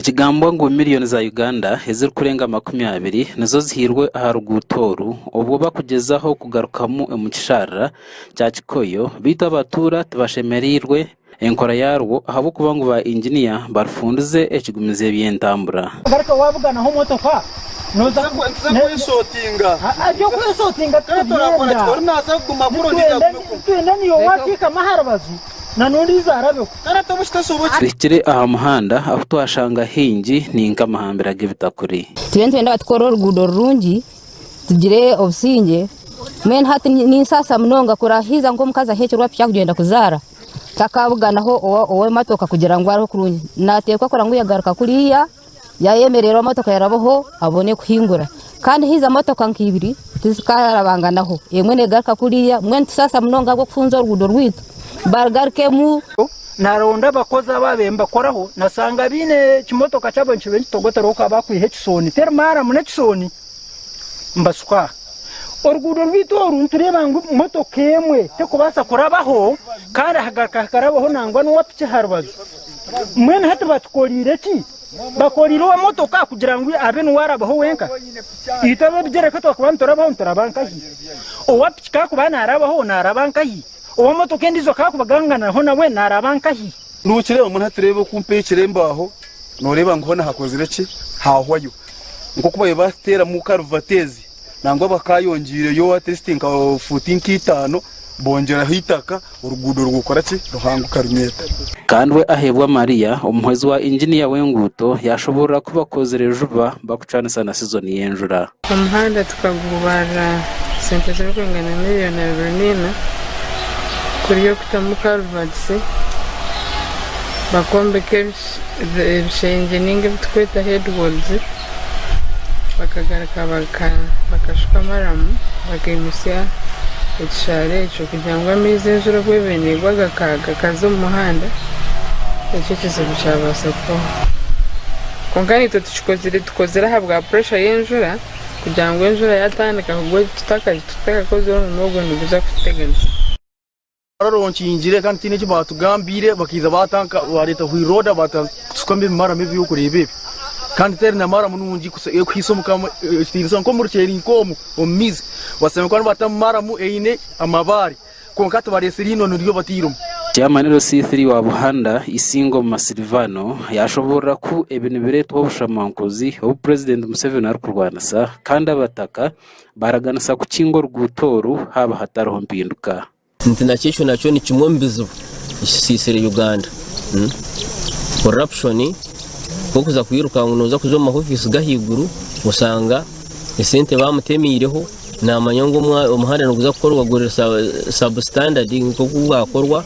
Nikigambwa ngu miriyoni za Uganda ezirikurenga makumi abiri nizo zihairwe aha ruguuto oru obwo bakugyezaho kugarukamu omu kisharara kya Kikoyo beitu abatuura tibashemereirwe enkora yarwo ahabw'okuba ngu ba Inginiya barufundize ekigumiza eby'entambura. Ngaruka wabuganaho motoka noza kwesotinga ebyokwesotinga titubyenda nitwenda niiwe wateekama aharubaju na n'ondiijo arabeho. Tuhikire aha muhanda ahu twashanga haingi ni nk'amahambira g'ebitakuri. Turiyo nitwenda tukore oruguuto rurungi, tugire obusingye. Mbwenu hati ninsasa munonga kuraaha haihi nk'omukazi aheekirwe piki arikugyenda kuzaara, takaabuganaho ow'emotoka kugira ngu areeho kurungi. Naateekwa kurora ngu yaagaruka kuriya. Yaayemerera emotoka yarabaho abone kuhingura. Kandi haija motoka nka ibiri tizikarabanganaho, emwe neegaruka kuriya. Mbwenu nitusaasa munonga ahabw'okufunza oruguuto rwaitu baarugaruka emu. Naaronda abakozi abo abe nibakoraho, naashanga baine ekimotoka kyabo nikiba nikitogota reero ku haba hakwiha ekisooni teri maaramu n'ekisooni nibashuka aha. Oruguuto rwaitu oru nitureeba ngu motoka emwe terikubaasa kurabaho kandi hagaruka hakarabaho nangwa n'owa piki aha rubaju. Mbwenu hati batukoreire ki? Bakoreire ow'emotoka kugira ngu abe niwe arabaho wenka? Itwe ab'ebigyere ka twakuba niturabaho nituraba nkahi? Owa piki ka akuba naarabaho naaraba nkahi? Ow'emotoka endiijo ka akuba aganganiraho nawe naaraba nkahi? Nookireeba? Mbwenu hati tureebe oku mpaikire embaaho, nooreeba ngu hoona hakozire ki? Haahwayo. Nk'oku baabaire baatuteeramu karuvati ezi, nangwa bakaayongeireyo atleast nka fuuti nka itaano bongeraho eitaka oruguudo rukakora ki? Ruhanguka runyeta. Kandwe Aheebwa Maria, omuhwezi wa inginiya w'enguuto yaashoboorora ku bakozire juba bakucwanisa na sizoni y'enjura. Omuhanda tukagubaarira sente zirikwingana miriyoni abiri naina kuri okutamu karivatisi, bakwombeka ebishengye ninga ebi turikweta headwalls. bakagaruka bakashuka amaramu bakaimutsya ekishaara ekyo kugira ngu amaizi enjura obu eba negwa gakaza omu muhanda nikyo ekizibu kyabaasa kubaho kwonka itwe tukikozire tukozire ahabwa puresha y'enjura kugira ngu enjura yatandika kugwa tutakazi tutakakozire omurimo ogwo niguza kututeganisa. Orora onkingire kandi tihaine eki baatugambiire, bakaija baareeta hwiroda baatusukamu ebimarama ebi orikureeba ebi, kandi teri na maramu nungi kuhitsya erikuhitsya omu kamwa ekitiinisa nk'omu ruceeri nk'omu omu maizi. Oshanga ku nibaatamu maramu eine amabaare, kwonka tibareetsire einono ryo batairemu. Kyamaniro C. Iii wa Buhanda, Isingo omu Masilvaano, yaashoboorora ku ebi nibireetwa obushamankuzi obu Purezidenti Museveni arikurwanisa kandi Abataka baaraganisa kukinga oruguuto oru haaba hatariho mpinduka. Nti nakyo ekyo nakyo ni kimwe omu bizibu ekisiisire Uganda. Corruption, nk'okuza kwiruka ngu nooza kuza omu ma office g'ahaiguru, oshanga esente baamutemeireho, naamanya ngu omuhanda niguza kukorwa guri substandard nk'oku gwakorwa.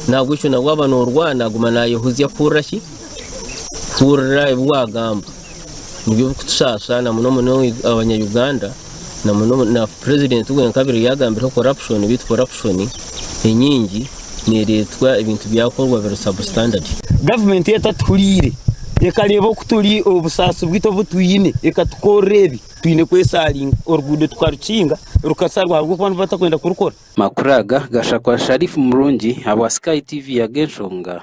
N'ahabw'ekyo nabwo aba noorwana, aguma naayehuzya kuhurira ki? Kuhurira ebi waagamba. Nibyo bikutusasa na muno muno abanya Uganda na muno na president we nkabire yagambireho corruption bitu corruption enyingi neretwa ebintu byakorwa biri sub standard. Gavumenti etatuhuriire ekareeba oku turi obusaasi bwitu obu twine ekatukorera ebi twine kwesaringa oruguudo tukarukinga rukasarwa ahabw'okuba nibo batakwenda kurukora. Amakuru aga gashakwa Sharif Murungi ahabwa Sky TV ya G'enshonga.